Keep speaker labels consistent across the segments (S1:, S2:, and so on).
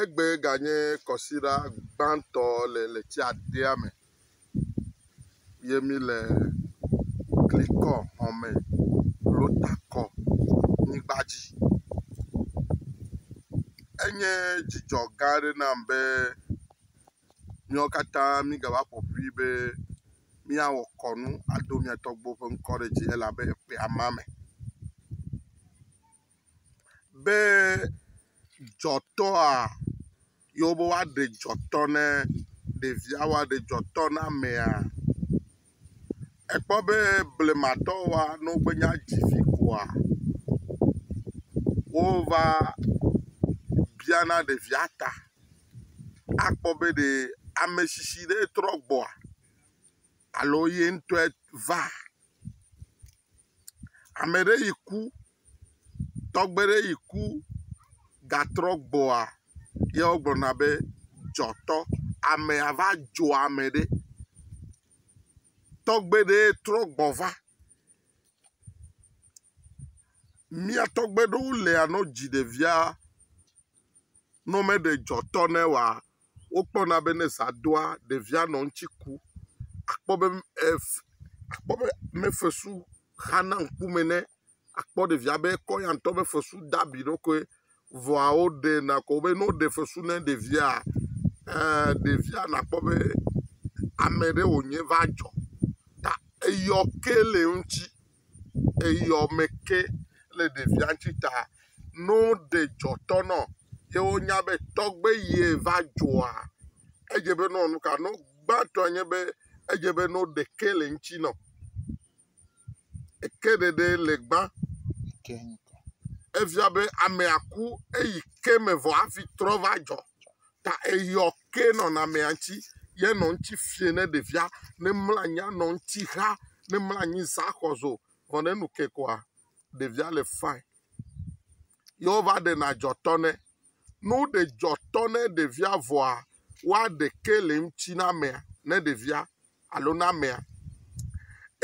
S1: Egbee ganye kɔsiɖa gbãtɔ le letsia dea me ye mi le Glikɔ xɔme lo takɔ nyigba dzi. Enye dzidzɔ gã aɖe nam be miawo katã mi gava ƒo ƒui be mia wɔ kɔnu ado mia tɔgbuiwo ƒe ŋkɔ ɖe dzi elabe eƒea ma me. be dzɔtɔa yewo be woa ɖe dzɔtɔ ne ɖevia woa ɖe dzɔtɔ ne amea. Ekpɔ be blema tɔwoa ne wogbe nya dzi vi koa wova bia na ɖevia ta akpɔ be ɖe ametsitsi ɖe trɔ gbɔa alo ye ŋutɔe va. Ame ɖe yi ku, tɔgbe ɖe yi ku gatrɔ gbɔa, ye wogblɔna be dzɔtɔ. Amea va dzo ame ɖe. Tɔgbe ɖee trɔ gbɔ va. Mía tɔgbe ɖewo lea ne wodzi ɖevia. Ne womeɖe dzɔtɔ nɛ oa, wokpɔna be ne zã doa, ɖevia nɔ eŋuti ku. Akpɔ be ef, akpɔ be ne fesu xana ŋkume nɛ, akpɔ ɖevia be ekɔ ya ŋutɔ be fesu da abi ɖo koe. Vɔa woɖe na ko be ne woɖe fesu na ɖevia, eee ɖevia nakpɔ be ame ɖe wònye va dzɔ ta eyɔ ke le eŋuti. eyɔ me ke le ɖevia ŋuti ta, ne woɖe dɔ tɔ na wo ye wonya be tɔgbe ye va dzɔa, edze be nɔ nu ka nɔ gbãtɔ nye be edze be nɔ ɖe ke le ŋuti nɔ. Eke ɖeɖe le gbã. Efia be amea ku eyi ke me vɔ hafi trɔ va dzɔ. ta eyɔ ke nɔnɔamea ŋuti ye nɔ eŋuti fiẽ ne ɖevia ne mlɔ anyi anɔ eŋuti xa ne mlɔ anyi za xɔzo vɔ ne enu ke koa ɖevia le fine ye wova ɖena dzɔtɔ nɛ. Ne woɖe dzɔtɔ ne ɖevia vɔa woaɖe ke le eŋuti na amea ne ɖevia alo na amea.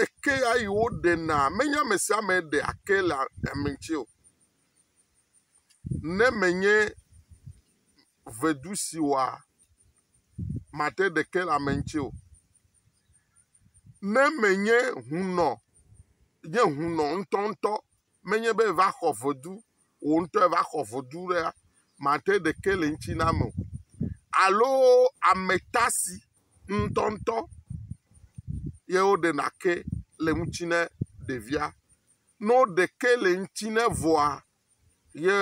S1: Eke ya yi woɖenaa menye ame sia ame ɖea ke le ame ŋuti o. Ne menye vedu si wɔa mate ɖeke le ame ŋuti o, ne menye hunɔ, nye hunɔ ŋutɔŋutɔ, menye be va xɔ vedu, wò ŋutɔ va xɔ vedu ɖea, mate ɖeke le eŋuti na ame o. Alo ame ta si ŋutɔŋutɔ ye woɖe na ke le eŋuti na ɖevia. Ne woɖe ke le eŋuti na evɔa, ye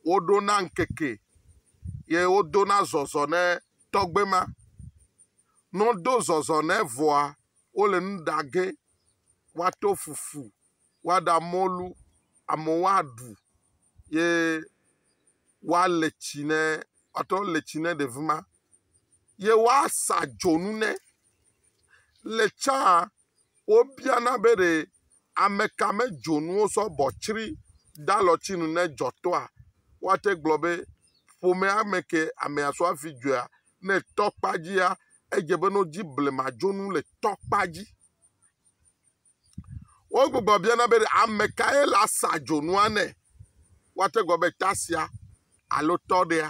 S1: woɖo na ŋkeke ye wodo na zɔzɔ ne tɔgbe ma. Ne wodo zɔzɔ ne vɔa, wole nu ɖa ge, woato fufu, woaɖa mɔlu, amewo aɖu ye woale tsi ne woatrɔ le tsi ne ɖevi ma ye woasa dzonu ne. Le tsã. Wobiana be ɖe ameka me dzonuwo sɔ bɔ tsri ɖe alɔtsinu ne edzɔ tɔa? Woate gblɔ be ƒomea me ke amea sɔ hafi dzoea. Ne etɔ kpa dzia, edze be ne wodzi blema dzonu le tɔ kpa dzi. Wogbugbɔ biana be ɖe amekae le asa dzonua nɛ? Woate gblɔ be tasia alo tɔɖea.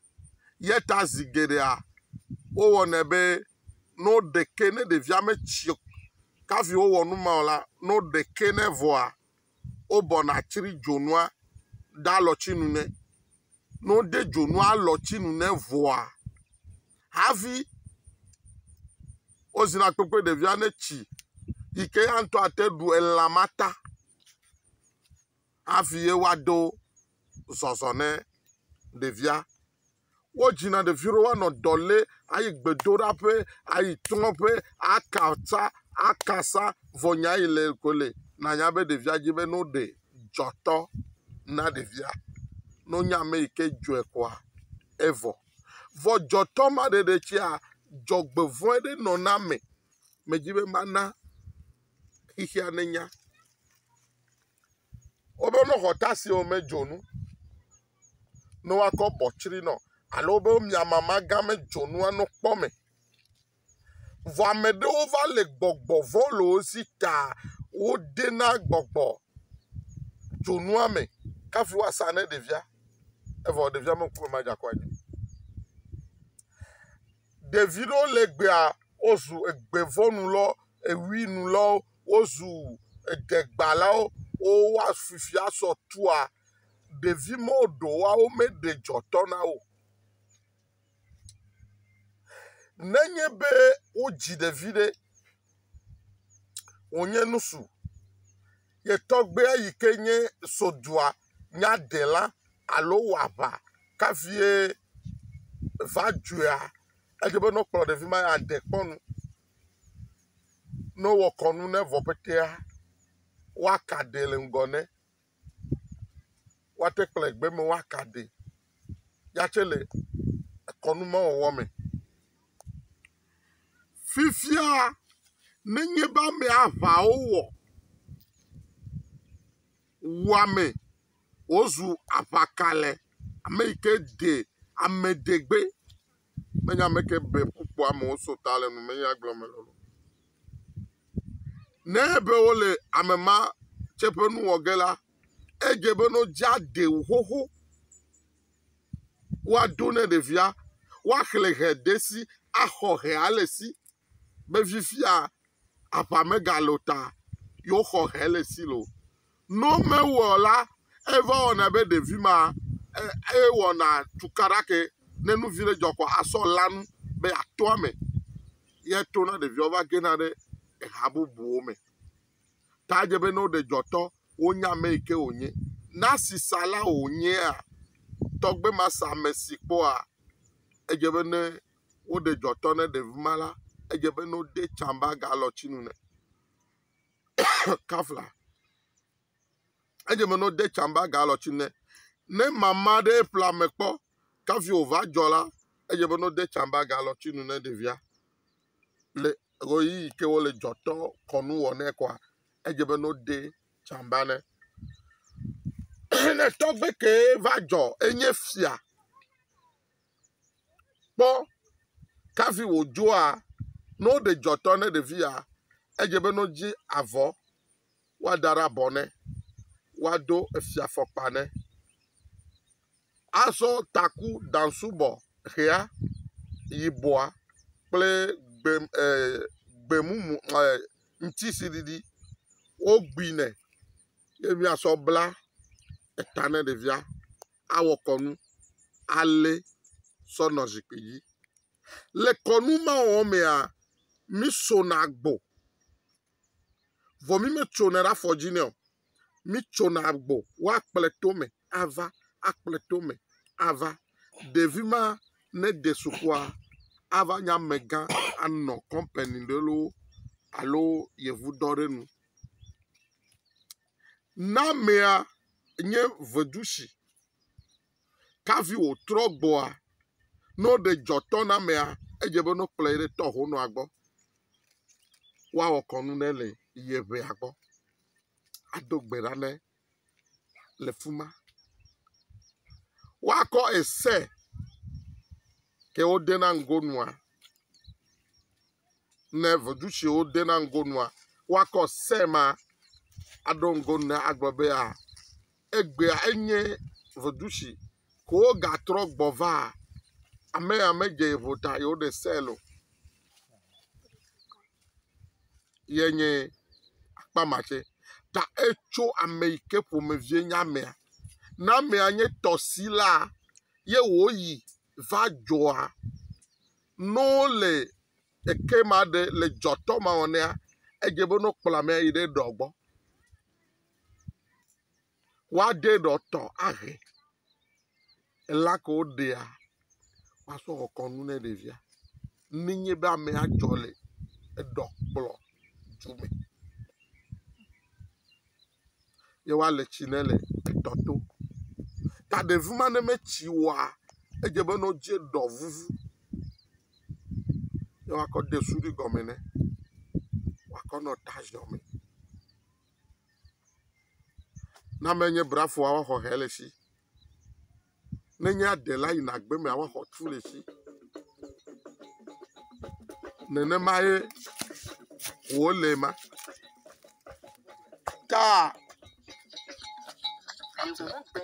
S1: Eya ta zi geɖea wowɔnɛ be ne woɖe ke ne ɖevia metsi o kafi wowɔ nu ma o la, ne woɖe ke nɛ vɔa, wobɔna tsri dzonua ɖe alɔtsinu nɛ. Ne wode dzonu alɔtsinu nɛ vɔa hafi wozina kpekpe ɖevia netsi yi ke eya ŋutɔ ate ɖu elã ma ta. hafi ye woado zɔzɔ ne ɖevia. Wodzina ɖevi ɖe woanɔ dɔ lé ayi gbedoɖaƒe, ayi trɔ̃ƒe, aka sa, aka sa vɔ nya yi le ko le nanya be ɖevia dzi be no ɖe dzɔtɔ na ɖevia. No nya me yi ke dzɔe koa evɔ. Vɔ dzɔtɔ ma ɖeɖe tsia dzɔgbevɔ̃e ɖe nɔ na me. Medzi be mana xixia ne nya. Woɖo nɔ xɔta si wo me dzonu no wa kɔ bɔ tsri nɔ alo wobe mia mama gã me dzonu wa no kpɔ me. Vɔ ame ɖewo va le gbɔgbɔ vɔ le wo si ta wo de na gbɔgbɔ dzonua me kafi wa sa ne ɖevia evɔ ɖevia me ŋkume ma dza kɔ anyi. Ɖevi ɖewo le gbea wo zu egbevɔnu lɔ ewinu lɔ. wozu edegbalawo wo wa fifia sɔ tua ɖevi me ɖo wa wo me ɖe dzɔ tɔ na wo ne nye be wo dzi ɖevi ɖe wo nye nusu ye tɔgbe yi ke nye sodua nya ɖe la alo wa ʋa ka vie va dzoea edze be nɔ kplɔ ɖevi ma ya de kpɔ nu Ne wowɔ kɔnu ne vɔ petea, woaka ɖɛ le ŋgɔ ne. Woate kplɔe gbe me woaka ɖɛ ya tse le kɔnu ma wɔwɔ me. Fifia nenye be ame aŋawo wɔ wu ame wozu aŋakalɛ ame yi ke ɖe ame ɖe gbe. Menye ame ke be kpukpɔ amewo so ta le numenya gblɔ me lolo. Ne be wole ame ma tse ƒe nu wɔ ge la, edze be no dza de wo xoxo. Woaɖo ne ɖevia, woaxlẽ he de si, axɔ he ale si. be fifia aƒa megalo ta yewo xɔ he le Silo. No mewɔ la, eva wɔna be ɖevi ma e wɔna tukaɖa ke ne nu vi ɖe dzɔ kɔ asɔ lanu be ato ame. Ye to na ɖeviawo va gena ɖe eha bubuwo me. Ta dze be ne woɖe dzɔtɔ wonya ame yi ke wònye. Na sisa la wònyea tɔgbe ma sa ame si kpɔa edze be ne woɖe dzɔtɔ ne ɖevi ma la, edze be ne wode tsamba galɔtinu nɛ kafla. Edze be ne wode tsamba galɔtinu nɛ. Ne mama ɖe eƒlea me kpɔ kafi wòva dzɔ la, edze be ne wode tsamba galɔtinu ne ɖevia. Le ɣeyiɣi ke wole dzɔtɔ kɔnu wɔ nɛ kɔa, edze be ne wode tsamba nɛ. ne tɔgbe kee va dzɔ enye fia Kpɔ kafi wòdzoa ne woɖe dzɔtɔ ne ɖevia. Edze be ne wodzi avɔ, woada ɖe abɔ nɛ, woado efiafɔkpa nɛ, azɔ taku daŋsubɔ ʋea, yibɔa kple gbe e gbemumu e ŋutisiɖiɖi wogui nɛ ye míasɔ bla eta ne ɖevia. awɔ kɔnu alé sɔ nɔ zikpui dzi. Le kɔnu ma wɔwɔ mea, mí sona agbo. Vɔ mí me tsonɛ ɖe afɔ dzi nɛ o. Mí tsona agbo wa kplɔe to me ava, akplɔe to me ava. Ɖevi ma ne de sukua ava nye amegã anɔ kɔmpani ɖe loo alo yevudɔ ɖe nu. Na mea nye vedushi. Kavi wò trɔ gbɔa, ne woɖe dzɔ tɔ na mea, edze be ne wokplɔe ɖe tɔ ho nɔa gbɔ. Woawɔ kɔnu ne le ye ʋea gbɔ. Ado gbe ɖa ne le fi ma. Woakɔ ese ke wode na ŋgo nua. ne vodutsiwo dena ŋgo nua, woakɔ se ma aɖo ŋgo ne agblɔ bea, egbea enye vodutsi ko wogatrɔ gbɔ va. Amea medze yevo ta ye woɖe sel o. Ye nye akpa ma tse. Ta etso ame yi ke ƒomevie nye amea. Ne amea nye tɔsilaa ye wòyi va dzɔa, ne wole eke ma ɖe le dzɔtɔ ma wɔ nɛa, edze be ne wokplɔ amea yi ɖe eɖɔ gbɔ. Woaɖe eɖɔ tɔ ahe. Ela ke woɖea, woasɔ wɔ kɔnu ne ɖevia. Ne nye be amea dzɔ le eɖɔ kplɔ dzi me. ye woale tsi ne le etɔ to. Ta ɖevi ma ne metsi oa, edze be ne wodze ɖɔ vuvu ye woakɔ de suɖui gɔme nɛ wòakɔ nɔ ta ziɔ mee. Ne amea nye brafoa, woaxɔ hɛ le esi. ne nye aɖe la yina gbe me awa xɔtu le fi. Nenemae wòle ema. Kaa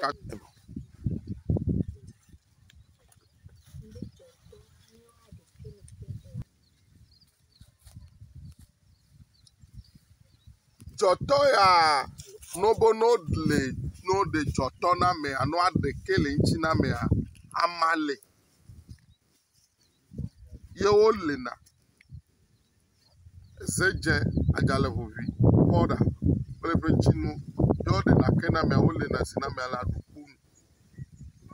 S1: ka Dzɔtɔ ya no be no ɖle no ɖe dzɔtɔ na mea no aɖe ke le eŋtsi na mea ama le ye wo le na eze dze adzale ʋuʋui kpɔɖa kple eƒe ŋtsinuwo ye wo ɖena ke na mea wo le na si na mea le aɖukpo nu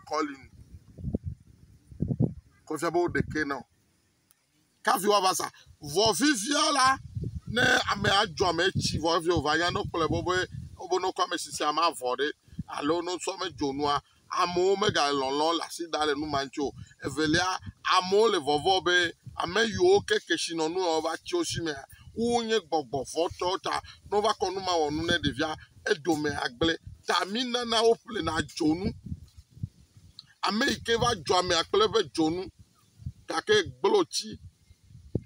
S1: kɔli nu ko efia be wo ɖe ke na o. kafi woava sa. Vɔ fifia la, ne amea dzɔ ame etsi vɔ hafi wòva nya ne wokplɔe be wobe wobe ne wokɔ ame si sia ame avɔ ɖe alo ne wosɔ ame dzo nua, amewo megale lɔlɔ̃ le asi dam le nu ma ŋuti o. Evelia, amewo le vɔvɔ̃ be ame yiwo ke kesinɔnu ya wova tsi wo si mea, wonye gbɔgbɔ vɔ̃ tɔwo ta ne wova kɔ nu ma wɔ nu ne ɖevia, edome agblẽ. Ta minana woƒlena dzonu. Ame yi ke va dzɔ amea kple eƒe dzonu. gake gblotsi,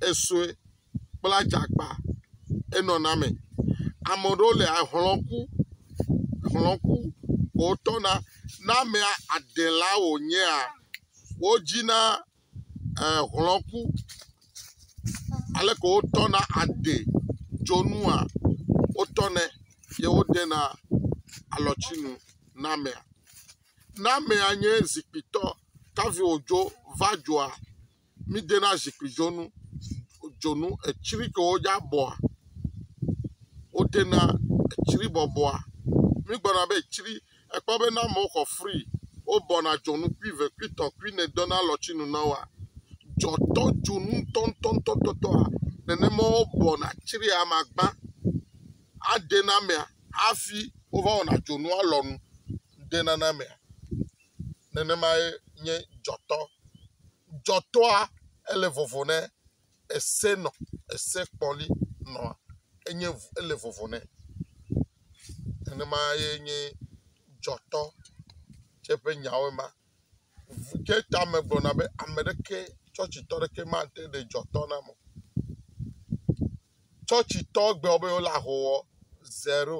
S1: esue kple adzakpa enɔna eme. Ame aɖewo le ahlɔ̃ku, hlɔ̃ku ko wotɔna. Ne amea adela wònyea, wodzina ɛɛ hlɔ̃ku. Aleke wotɔna ade dzonua, wotɔnɛ ye wodena alɔtsinu na amea. Ne amea nye zikpuitɔ, kavi wòdzo va dzoa, mídena zikpuidzonu dzonu etsri ke wodza bɔa, wodena etsri bɔbɔa. Mígblɔna be etsri, èkpɔ be ne amewo xɔ fri, wobɔna dzonu kpui eve, kpui etɔ̃, kpui ene dena alɔtsinu na woa, dzɔtɔ dzonu ŋutɔŋutɔŋutɔa, nenema wobɔna tsria ame agbã, adena amea hafi wova wɔna dzonua lɔnu. ŋutenanamea, nenemae nye dzɔtɔ. Dzɔtɔa, ele vovo nɛ, ese nɔ, ese kpɔli nɔ, enye ŋu, ele vovo nɛ. Nenemae nye dzɔtɔ tsɛ ƒe nyawo ema. Ŋu tsɛ tame gblɔna be ame ɖeke, tsɔtsitɔ ɖeke mate ɖe dzɔtɔ nam o. Tsɔtsitɔ gblɔ be wole ahowɔ, zero.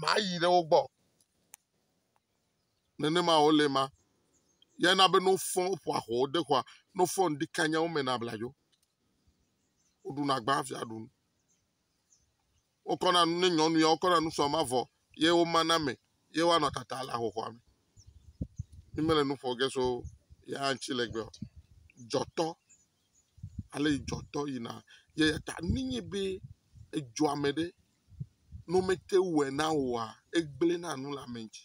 S1: mayi ɖe wo gbɔ. Nenema wòle ma. Ya na be ne wofɔ woƒo axɔwo de xɔa, ne wofɔ ŋdi kanya wo me na abladzo. Woɖuna gbã hafi aɖu nu. Wokɔna nu ne nyɔnu ya wokɔna nu sɔ ma vɔ ye womana me ye woanɔ tata le ahoxɔa me. Mi mele nu ƒo ge so ya ŋuti le gbea o. Dzɔtɔ. ale dzɔtɔ yina eyata nenye be edzɔ ame ɖe ne womete ŋu wɔe na wòa egblẽ na nu le ame dzi.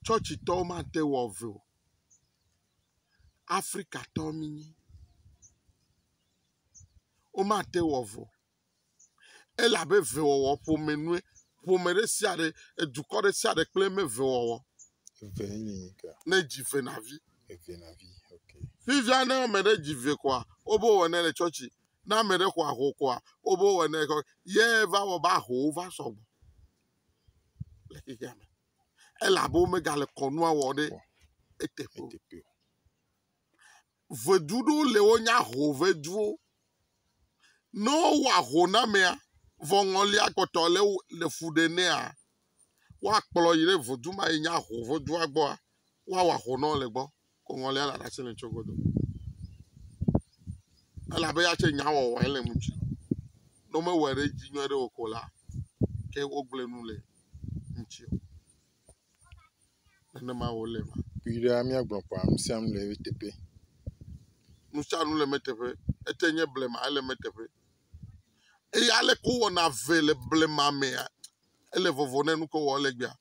S1: Tsɔtsi tɔwo mate ŋu awɔ vɛ o. Afrika tɔwo mi nyi. Womate ŋu awɔ vɛ o. Ele abe vewɔwɔ ƒome nue. Ƒome ɖe sia ɖe, edukɔ ɖe sia ɖe kple eme vewɔwɔ. Eve ye nye
S2: nika. Ne dzi ve na vi.
S1: Eve na vi. Okay.
S2: Fifia ne ame ɖe
S1: dzi ve koa, wobe wɔ ne le tsɔtsi. Ne ame ɖe xɔ aho koa, wobe wɔ ne kɔ. Ye va wɔ be ahowo va sɔgbɔ le xexea me. Ele abe womega le kɔnua wɔ ɖe eteƒe o. Ŋedu ɖewo le wonye aho ŋeduwo. Ne wowɔ ahonamea vɔ ŋɔlia kpɔtɔ le wo le fu ɖe nɛa, woakplɔ yi ɖe ŋedu ma yi nye aho ŋedua gbɔa woawɔ aho nɔ le gbɔ ko ŋɔlia le ɖasi nɛ tso godo. Elabe ya tse nya wɔwɔ ele ŋuti. Ne womewɔe ɖe edzi nyuiɖe o ko la ke wogblẽ nu le ŋuti o. nenema wòle ma. Kpui ɖe míagblɔ
S2: ƒãa, nu sia nu le eteƒe.
S1: Nu sia nu le eteƒe. Ete nye blema, ele eteƒe. Eye aleke wowɔna eve le blema mea, ele vovo ne nuke wowɔ le egbea.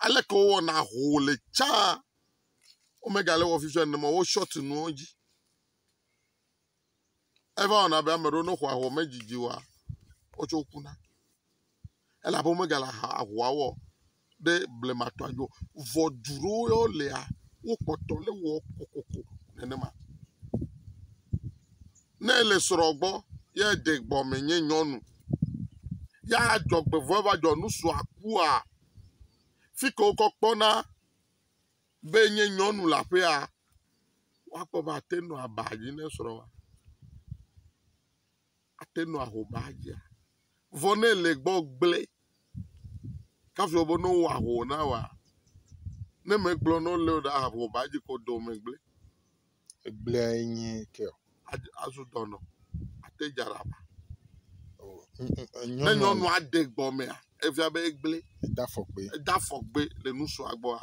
S1: Aleke wowɔna ho le tsã, womegale wɔ fifia nenema o, wo shɔti nuwo dzi. Eva wɔna be ame aɖewo ne xɔ ahɔa medidi oa, wotsɛ wokuna. Elabe womegale aha ahɔa wɔ ɖe blematɔa dzi o. Vɔ du ɖewo ya wolea, wokpɔtɔ le wɔ kokoko nenema. Ne ele srɔ̃ gbɔ ye eɖe gbɔme nye nyɔnu ya adzɔgbevɔ̃e va dzɔ nu srɔ̃a kua, fi ke wokɔ kpɔna be enye nyɔnu le aƒea, woakpɔ be ate ŋu anɔ aba dzi ne srɔ̃a, ate ŋu anɔ ahoma dzia. Vɔ ne le egbɔ gblẽ kafi wògblɔ be ne wowɔ ahoma na woa, ne megblɔ na wo le o ɖe, ahoma dzi kpɔ dɔ megblẽ. Egblea
S2: ye nyi keo. Azu dɔnɔ
S1: ate dza ɖa ba. Ne nyɔnua
S2: de gbɔ
S1: mea, efia be egble. Eda fɔgbe. Eda
S2: fɔgbe le
S1: nusua gbɔa,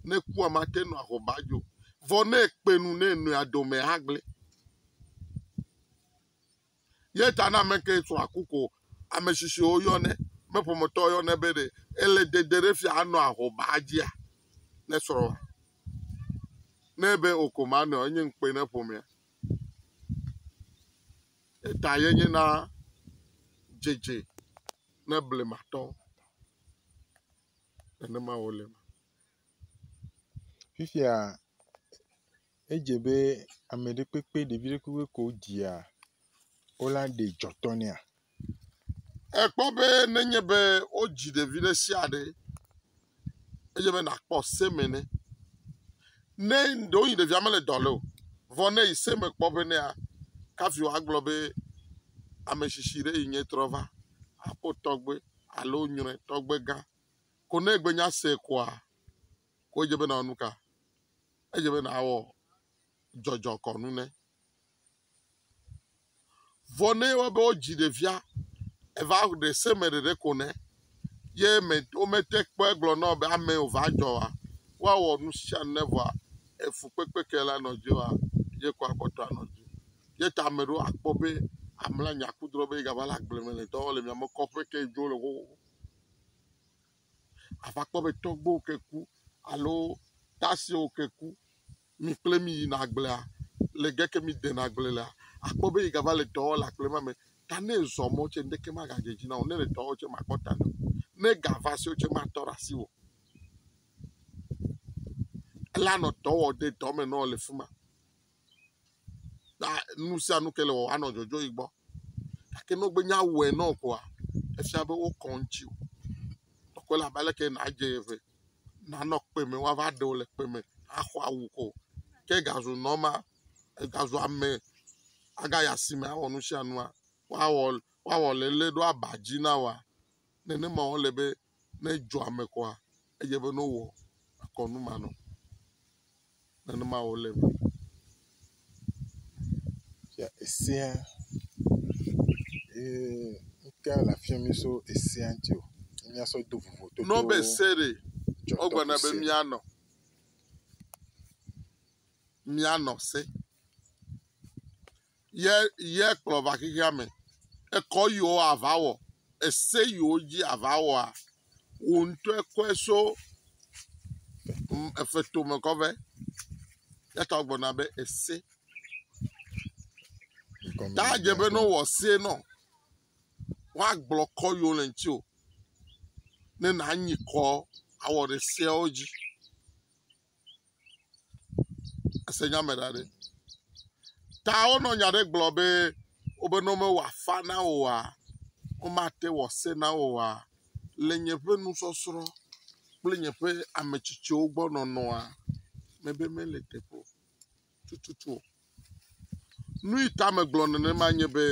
S1: ne kua mate nɔ aho ba dzo. Vɔ ne ekpe nu ne nɔa dome hã gble. Ye ta na ame ke srɔ̃a ku ko ame tsitsiwo yɔnɛ, ame ƒometɔwo yɔnɛ be ɖe ele dede ɖe fia anɔ ahobaa dzia ne srɔ̃a. Ne ebe o ko manɔa, enye ŋukpe ne ƒomea. Ye ta ye nye na dzedze ne blematɔwo. Nenema wole.
S2: Fifia Edze be ame ɖe kpekpe ɖevi ɖe kpekpe ko dzia wo la ɖe dzɔtɔ nɛa?
S1: Èkpɔ be nenye be wodzi ɖevi ɖe sia ɖe edze be nàkpɔ seme ne ne ɖewohĩ ɖevia mele dɔ leo vɔ ne yi seme kpɔ be nea kafi woagblɔ be ame tsitsi ɖe yi nye trɔ va aƒo tɔgbe alo nyrɔe tɔgbegã ko ne egbenya se koa ko edze be nawɔ nu ka? Edze be nàwɔ dzɔdzɔkɔnu ne. Vɔ ne wɔ be wodzi ɖevia eva ɖe se me ɖeɖe ko ne ye me womete kpɔ egblɔ na wo be ame wòva dzɔ wa woawɔ nu sia nu ne vɔa efukpekpe ke la nɔ dzi wa ye ko akpɔtɔ anɔ dzi. Ye ta ame ɖewo akpɔ be amla nya kudrɔ be yegava le agble me le dɔ wɔm le miame kɔƒe ke dzo le xoxoxo. ava kpɔ be tɔgbuiwo ke ku alo dasiwo ke ku, mi kple mi yina agblea, le ge ke mi dena agble lea, akpɔ be yigava le dɔ wɔm le agble ma me. Ta ne ezɔ mɔ tse ŋɖeke magadzɔ edzi na wò o. Ne ele dɔ wɔm tse makpɔ ta nɛ o. Ne ega va si wò tse matɔ ɖe asi wò o. Elanɔ dɔ wɔm de dɔ me nɔ le fi ma. ta nu sia nu ke le wɔwɔ anɔ dzɔdzɔ yi gbɔ. Gake ne wogbe nya wɔe na wò koa, efia be wokɔ ŋutsi wò. Ekɔe la be aleke nàdze ye ŋɛ nanɔ kpe me woava ɖe wò le kpe me axɔ awu ko ke egazu nɔma egazu ame agayi asime awɔ nu sia nua woawɔ woawɔ le lé ɖo aba dzi na wòa nenema wòle be. ne edzɔ ame kɔa, edze be ne wowɔ kɔnu ma nɔ. Nenema wòle be.
S2: Ya esẽa, ee, ŋkea le afi mi so esẽa ŋuti o. Míasɔ do vovototo. N'o be se ɖe,
S1: wogblɔna be míanɔ. Míanɔ se. yɛ yɛ kplɔ va xexea me. Ekɔ yiwo ava wɔ, ese yiwo dzi ava wɔa, wò ŋutɔe kɔe so ŋ efe tome kɔ vɛ. Yata wogblɔna be ese. Ta dze be ne wowɔ se nɔ, woagblɔ kɔ yiwo le ŋuti o. Ne nànyi kɔ awɔ ɖe seawo dzi. Ese nya me ɖa ɖe? Ta wonɔ nya ɖe gblɔ be wobe ne womewɔ afa na wò oa, womate wɔ se na wò oa, le nye ƒe nusɔsrɔ̃ kple nye ƒe ame tsitsiwo gbɔ nɔnɔa, mebe mele teƒe o tututu o. Nui ta megblɔ nenema nye be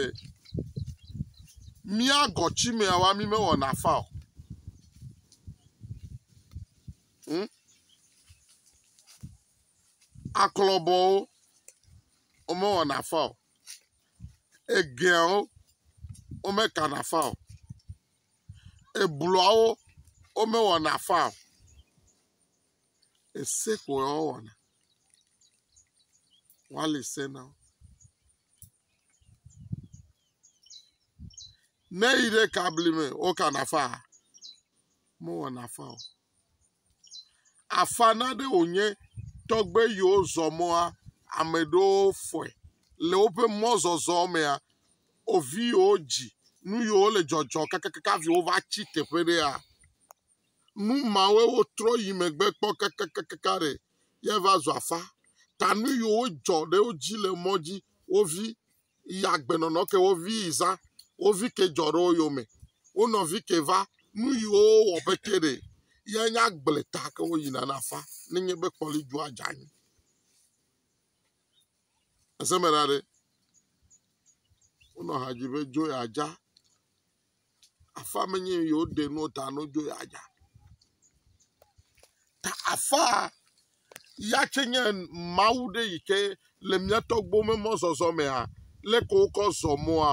S1: mía gɔtsimeawa mi mewɔna fa o. Hmm? Aklɔbɔwo womewɔna fa o. Egeawo womekana fa o. Ebluawo womewɔna fa o. ese ko woawɔna, woali se na wo. Ne yi ɖe ka bli me wokana fa, mewɔna fa o. Afa na ɖe wònye tɔgbe yiwo zɔ mɔa, ame ɖewo fɔe le woƒe mɔzɔzɔ mea, wo viwo dzi nu yiwo le dzɔdzɔ kakakaka hafi wova tsi teƒe ɖea. Nu mawoe wotrɔ yi megbe kpɔ kakakaka ɖe ya va zu afã. Ta nu yiwo wodzɔ ɖe wo dzi le mɔ dzi wo vi yi agbenɔnɔ ke wo vi yi zã. Wo vi ke dzɔ ɖe wo yome. Wo nɔvi ke va nu yiwo wowɔ be ke ɖe ya nye agble ta ke wo yina na afã nenye be kpɔli dzua dze anyi. Ese me ɖa ɖe. Wonɔ ha dzi be dzo ya dza. Afã me nye yewo ɖe nu ta no dzo ya dza. Ta afã ya tse nye Mawu ɖe yi ke le mía tɔgbuiwo me mɔzɔzɔ mea, lé ke wokɔ zɔ mɔa,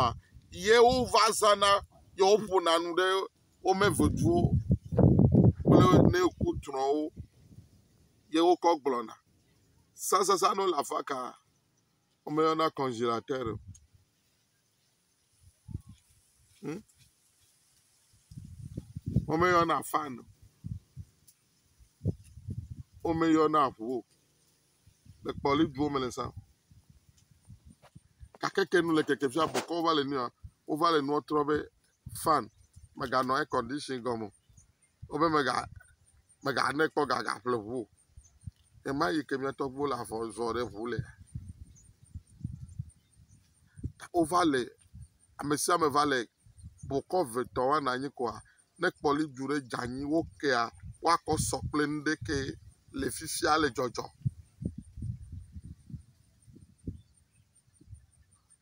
S1: ye wova zãna ye woƒona nu ɖe wo me veviwo kple ne ku trɔ̃wo ye wokɔ gblɔna. Sasasanu le afã kaa, womeyɔna congélateur o. Hm? Womeyɔna fan o. Womeyɔna ŋu o. Le kpɔli duwo me le sa. Gake ke nu le keke fia bɔkɔ wova le nua wova le nua trɔ be fan meganɔ air condition gɔme o. wobe mega mega ne kpɔ gaga ƒle ʋu o. Ɣe ma ɣi ke mía tɔgbuiwo le afɔ zɔ ɖe ʋu le. Wova le ame sia ame va le bukɔ ve tɔ wɔna anyi koa ne kpɔli dzu ɖe dze anyi wo kea woakɔ sɔ kple nuɖe ke le fifia le dzɔdzɔ.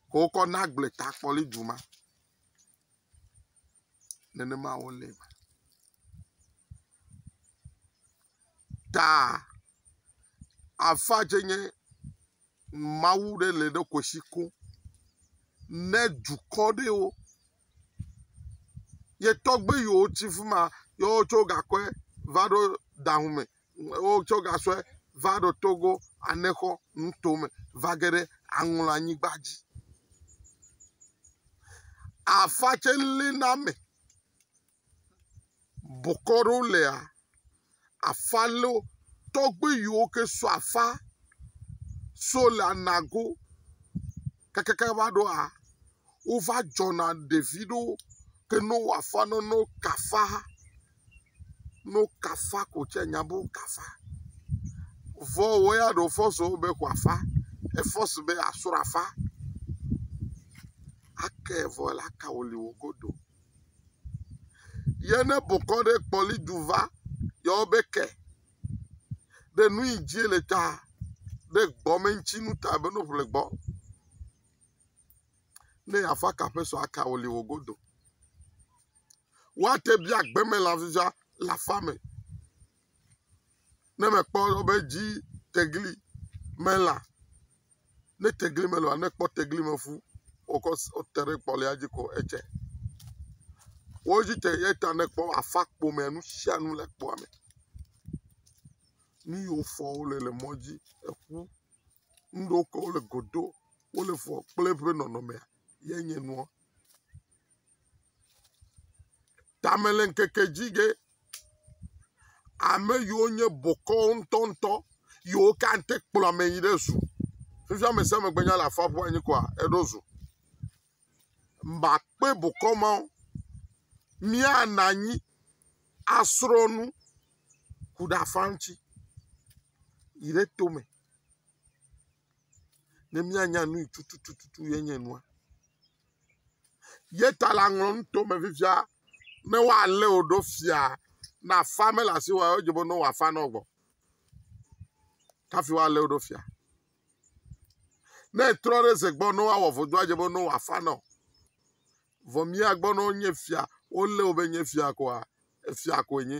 S1: Ke wokɔ na agble ta kpɔli dzu ma. nenema wole. Taa afa tsɛ nye Mawu ɖe le ɖe kwesi ko ne dukɔ ɖewo. Yetɔgbe yiwo tsi fi ma ye wotsɔ gakɔe va ɖo daŋume wotsɔ gasɔe va ɖo Togo Anexɔ nuto me va ge ɖe Aŋlɔanyigba dzi. Afa tsɛ lé na ame. Bokɔ ɖewo lea, afa lé wo. Tɔgbui yiwo ke so afa so le Anago kakaka va ɖoa, wova dzɔna ɖevi ɖewo ke ne wowɔ afa na wo ne woka afa. no kafa ko tsɛ nya be wo kafa. Vɔ wɔ ya ɖo fɔso wo be kua fa. Efɔs be asro afa. Ake vɔ la ka wo li wo godo. Yɛ ne bokɔ ɖe kpɔli ju va yɔ wo be ke ɖe nu yi dzi le ta ɖe gbɔ me ŋtsi nu ta be no ƒle gbɔ. Ne ya fa kaƒe so aka wo li wo godo. woate bia gbemelã vivia le aƒea me ne mekpɔ be dzi tegli melã. Ne tegli melɔ̃a, ne ekpɔ tegli me ƒu wòkɔ s wote ɖe kpɔlia dzi ko edze. Wo dzi te eya ta ne ekpɔ aƒea ƒomea nu sia nu le kpɔa me. Nu yiwo fɔm wole le mɔ dzi, eƒu, nu ɖewo ke wole godo wole fɔm kple eƒe nɔnɔmea ye nye nua. Tame le ŋkeke dzi ge, ame yiwo nye bokɔ ŋutɔŋutɔ yiwo ka ŋte kplɔ ame yi ɖe zu. Togbɔ be ame sia ame gbe nya le afɔ ƒuƒu anyi koa, eɖo zu. Makpe bokɔ mawo, míanɔ anyi asrɔ̃ nu ku ɖe afɔa ŋuti yi ɖe tome. ne míanya nu yi tututu ye nye nua. Ye ta la ŋlɔ nuto me fifia ne woalé wò ɖo fia ne afa mele asiwò o edze be ne wòafa ne wògbɔ kafi woalé wò ɖo fia. Ne etrɔ ɖe eze gbɔ ne woawɔ vodu edze be ne wòafa ne o. Vɔ mía gbɔ ne wonye fia wolé wò be nye fia koa efia koe nye.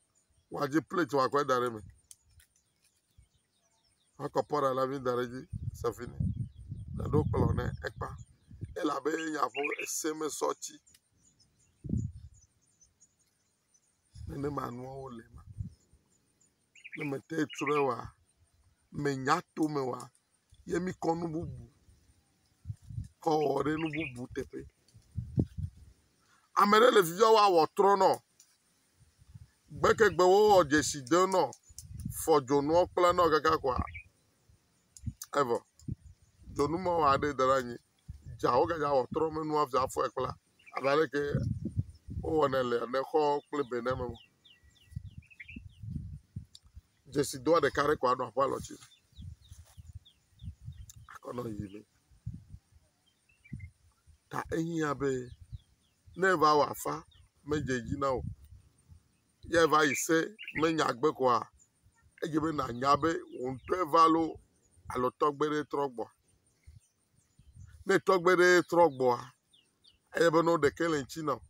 S1: Woadzi plate wòakɔ da ɖe eme. Woakɔ pɔt aɖe hafi da ɖe edzi. Sefi nɛ. Woɖo kplɔ̃ nɛ ekpa. Ele abe nya ƒom esemesɔti ene ma nuawo le eme. Ne mete trɔɛ oa, menya to me oa. ye mikɔ nu bubu kɔ wɔ ɖe nu bubu teƒe. Ame ɖe le vi dzɔm wɔa wɔtrɔ nɔ. Gbekegbe wo wɔ dzesi de nɔ. Fɔ dzonuɔ kpla nɔ kaka kɔa evɔ. Dzonu me wa ɖe da ɖe anyi. Dza wo ga dza wɔ trɔ me nua via fɔe kpla abe ale ke wo wɔnɛ le ne xɔ kple be name. dzesi doa ɖeka ɖe ko anɔ aƒe alɔti akɔ nɔ yi me ta ehiã be ne eva wɔ afa medze edzi na wò o ye eva yi se menya gbe koa edze be nànya be wò ŋutɔ eva lo alo tɔgbe ɖe trɔ gbɔ. Ne tɔgbe ɖe trɔ gbɔa eye be ne wo ɖekɛ le ŋtsi na wò.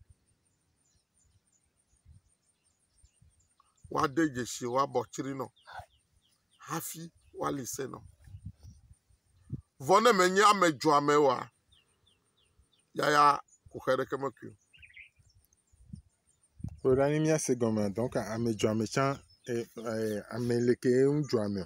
S1: woade dzesi woabɔ tsri nɔ hafi woali se nɔ. Vɔ ne menye ame dzoame oa, yaya ku xe ɖe ke mekui o.
S2: Kplɔ ɖa ne míase gɔmea, donc ame dzoame tsã, ame ɖekee ŋu dzoamea?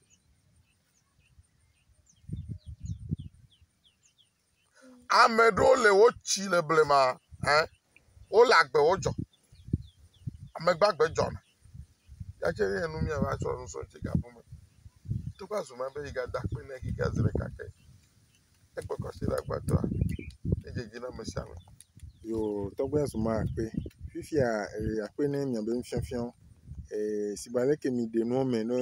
S1: Ame ɖewo le wo tsi le blema ɛ wole agbewo dzɔ. Ame gbagbe dzɔ na. Yatse ye nu mía va tsɔ nu so tsi gabu me. Togbɔ azu ma be yi ga da akpe ne yi ga ze ɖeka ke. Ekpɔ tɔ si le agbadɔa ye dzedzi na ame sia ame. Yoo
S2: tɔgbe ya zuma akpe. Fifia ee akpe ne nye miabe nufiafia wo. Ee si be ale ke miɖe nua me ne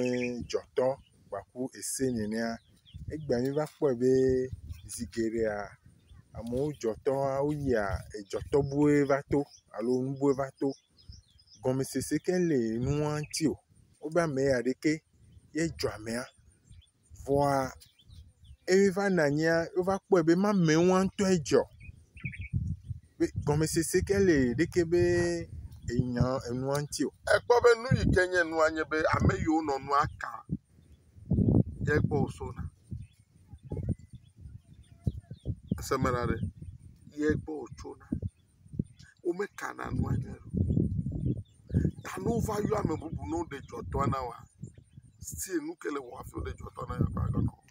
S2: dzɔ tɔ gbaku ese nenea egbea mi va kpɔe be zi geɖea amewo dzɔ tɔ woyia edzɔ tɔ bue va to alo nu bue va to. Gɔmesese ke le nua ŋuti o. Wobe ame ya ɖeke ye dzɔ amea. vɔa eye va nɔ anyia wova kpɔe be ma mɛ ŋua ŋutɔe dzɔ. Be gɔmesese ke le ɖeke be enya enua ŋuti o. Ekpɔ be nu yi ke
S1: nye nua nye be ame yiwo nɔ nua ka ye gbɔ wosɔna. Ese me ɖa ɖe? Ye gbɔ wotsona. womekana nu aɖe o. Ta ne wova yɔ ame bubu ne woɖe dzɔtɔ na wòa, still nu ke le ewɔm hafi woɖe dzɔtɔ na wòa agba gãme o.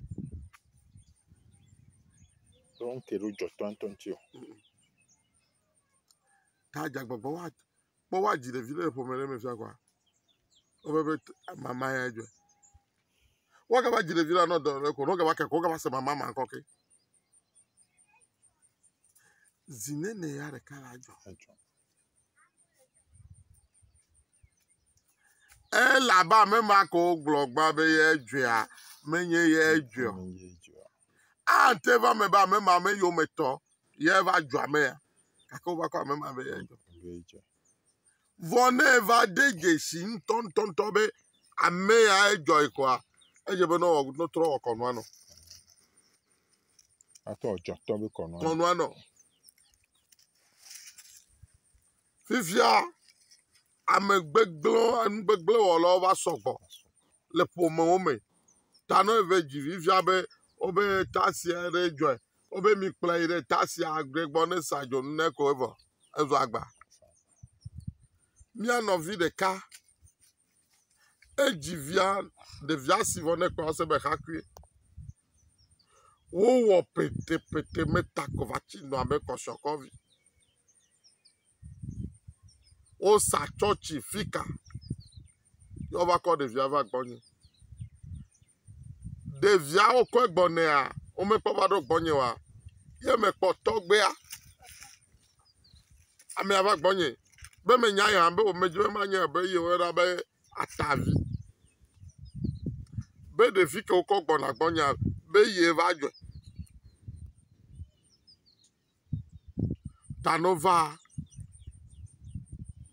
S1: Wrong
S2: ke ɖo dzɔtɔa ŋutɔ ŋuti o.
S1: Ta dze agbagba woa, kpɔ woadzi ɖevi ɖe le ƒome ɖe me fia kɔa, wobe be t- mama yae dzɔe. Woagava dzi ɖevi la nɔ dɔyɔɖe ko ne wogava ke ko wogava se mama ma ŋkɔ ke. Zi nɛnɛ ya ɖeka la dzɔ. Ele abe ame ma ke wogblɔ gbã be ye dzɔa, menye ye dzɔe o. Ate va me be ame ma me yometɔ ye va dzɔ amea gake wova kɔ ame ma be ye dzɔ. Vɔ ne eva ɖe dzesi ŋutɔŋutɔŋutɔ be ame ya edzɔe koa, edze be nɔwɔ notrɔ wɔ kɔnua nɔ.
S2: Atɔ ɔdzɔ tɔ be kɔnua nɔ. Kɔnua nɔ.
S1: Fifia ame gbegblẽ enu gbegblẽ wɔlawo va sɔgbɔ le ƒomewo me. Ta ne eve dzi fifia be wobe tasia ɖe dzɔe Wo be mi kplɔe yi ɖe taxi aɖe gbɔ ne sa dzonu ne ko evɔ ezu agba. Mía nɔvi ɖeka edzi via ɖevia si vɔ ne kpɔa ese be xakui. Wowɔ petepete meta ko va tsi nɔ abe kɔshiɔkɔ vi. Wosa tsɔtsi fika ye wova kɔ ɖevia va gbɔnye. Ɖevia wokɔe gbɔnea womekpɔ va ɖo gbɔnye oa ye mekpɔ tɔgbia. Amea va gbɔnye be menya ye hã be wome dzi be manye be ye woyɔna be atavi be ɖevi ke wokɔ gbɔna gbɔnyea be ye va dzɔe. ta nɔ va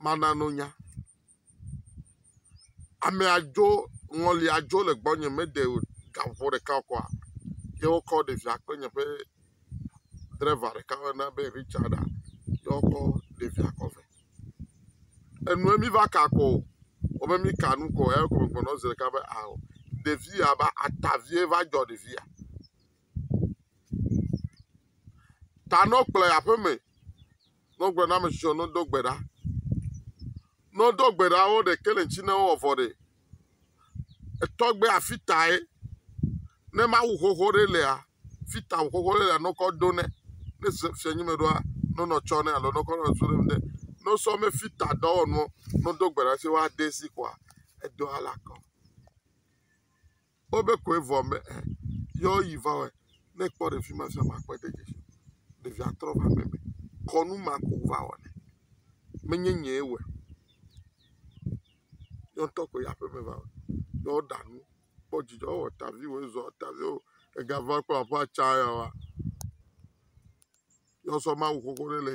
S1: mana no nya. Ame adzo ŋɔli adzo le gbɔnye meɖe o ga ŋu ɖeka o kɔa ye wokɔ ɖevia kple nye ƒe dreva ɖeka woyɔna be Richard a ye wokɔ ɖevia kɔ vɛ. Enue mi va ka kɔ o wobe mi ka nu kɔ eya ko megblɔ nɔ wo zi ɖeka be ao ɖevi ya be atavie va dzɔ ɖevi ya. Ta ne wokplɔe yi aƒe me, ne wogblɔ na ame tsitsi be nedo gbe ɖa, ne wodo gbe ɖa wo ɖe kelinci ne wowɔ vɔ ɖe, etɔgbe afi tae ne Mawu xoxo ɖe lea, fi ta xoxo ɖe lea ne wokɔ do nɛ. Ne se fia nyi me ɖoa, ne wonɔ tsɔ nɛ alo ne wokɔ nɔ zu ɖe ŋu nɛ. Ne wosɔ ame fi ta dɔwɔnuwo ne wodo gbe ɖa se woade zi koa, edɔa le akɔ. Kpɔ be kɔe vɔ me e yɔ yi va wɔe. Ne ekpɔ ɖevi ma fia ma kpɔe de dzesi o. Ɖevia trɔ va megbe. Kɔnu ma ko va wɔ nɛ. Menye nyee wɔe o. Yɔ ŋtɔ koe yi aƒeme va wɔe. Yɔ ɖa nu kpɔ dzidzɔ ewɔ ta viwo ezɔ ta viwo ega va kpɔ aƒe tsa ya wa. Yɔ sɔ mawu xoxo ɖe le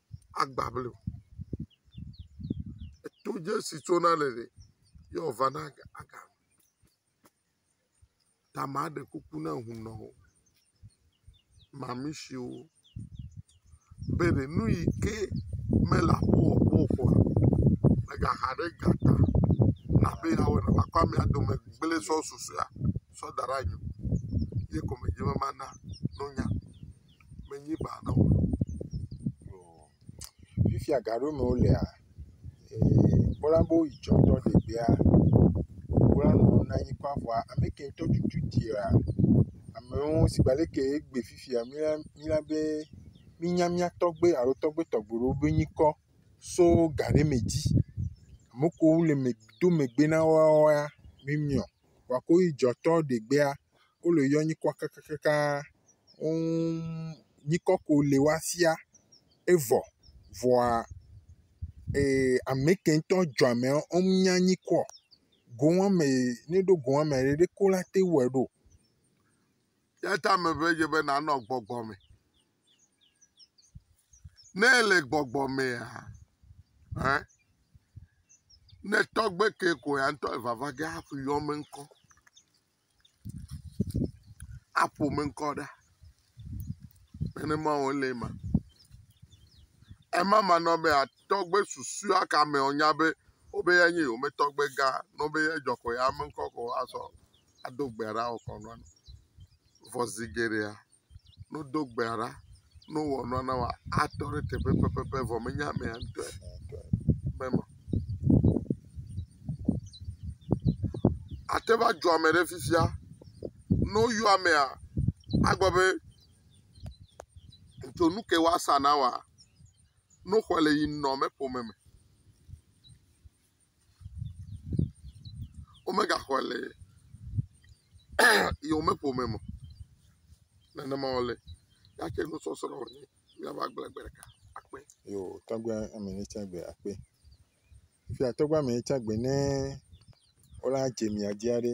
S1: agba ble o. Eto dze si tso na le ɖe ye wo va na ga aga. Ta ma ɖe kuku na ŋu nɔ wo. Mamishiwo be ɖe nu yi ke me le aƒe wɔ kpɔ ƒo a me ga xa ɖe ga ta na be ya wɔ nɔ akɔ amea dome gble sɔ susɔe sɔ da ɖe anyi o. Ye kɔme dze be ma na nɔ nya. menye ba na wo o.
S2: Fifia ga ɖewo me wolea, kpɔla be woyi tsɔ tɔ ɖegbea, kpɔla nɔ na anyi kpɔ aƒɔa, ame ke ŋtɔ tutu tia, amewo si gbe leke egbe fifia mía mía be mínya mía tɔgbe alo tɔgbe tɔgbe ɖewo be ŋkɔ so ga ɖe me dzi. Ame kewo le me do megbe na woawoa, mímiɔ, kpɔa ko yi dzɔ tɔ ɖegbea. wole yɔ nyikɔ kakakaka woŋ nyikɔ ko le wa fia evɔ vɔa ee ame ke ŋutɔ dzɔ ame woŋ nya nyikɔ o goŋ ame ne ɖo goŋ ame ɖe ko la te wɔe ɖo.
S1: Eya ta me ŋee dze be nanɔ gbɔgbɔ me. Ne ele gbɔgbɔ mea e ne tɔgbe ke ko ya ŋutɔ evava ge hafi yɔ me ŋkɔ. aƒo me ŋkɔ ɖa. Nenema wòle eme. Ema ma na be tɔgbe susua ka me wonya be wobe ya nye yewo me tɔgbe gã. Ne wobe ya dzɔ ko ya me ŋkɔ ko azɔ ado gbe ɖa wokɔ nane. Vɔ zi geɖea. ne wodo gbea ɖa, ne wowɔ nua na wòa, atɔ ɖe teƒe pɛpɛpɛ vɔ menye amea ŋutɔe be ma. Ate va dzɔ ame ɖe fifia. Ne woyɔ amea, agblɔ be, Dzo nu ke woasa na wòa, ne woxɔe le yi nɔ me ƒome me. womegaxɔe le yewome ƒome me o, nenema wòle, ya tse nusɔsrɔ̃ wònye, míava gblɔe gbe ɖeka akpe. Yo, tɔgbe
S2: ame ne tsa gbe akpe. Fia tɔgbe ame ne tsa gbe ne wola dze mia dzi aɖe.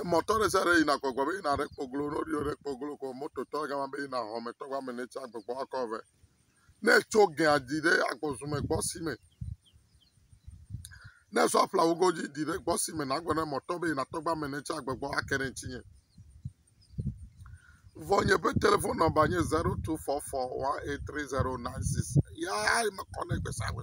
S1: Emɔtɔ ɖe sia ɖe yina gbɔgbɔ be yina ɖe kpɔ glo. Ne woɖo ɖe kpɔ glo ko mototɔ gama be yina xɔmetɔ ƒe ame ne tsi agbɔgbɔ akɔ vɛ. Ne etso gɛa di ɖe agbɔzume gbɔ si me. Ne esɔ ƒlawu godzi di ɖe gbɔ si me nagblɔ ne mɔtɔ be yina tɔgba me ne tsi agbɔgbɔ ake ɖe ŋutsinye. Vɔ nye ƒe telefon nɔmba nye zero tu fɔ fɔ wan eit tri zero naen six. Yaa ye mekɔ nɛ gbesagbe.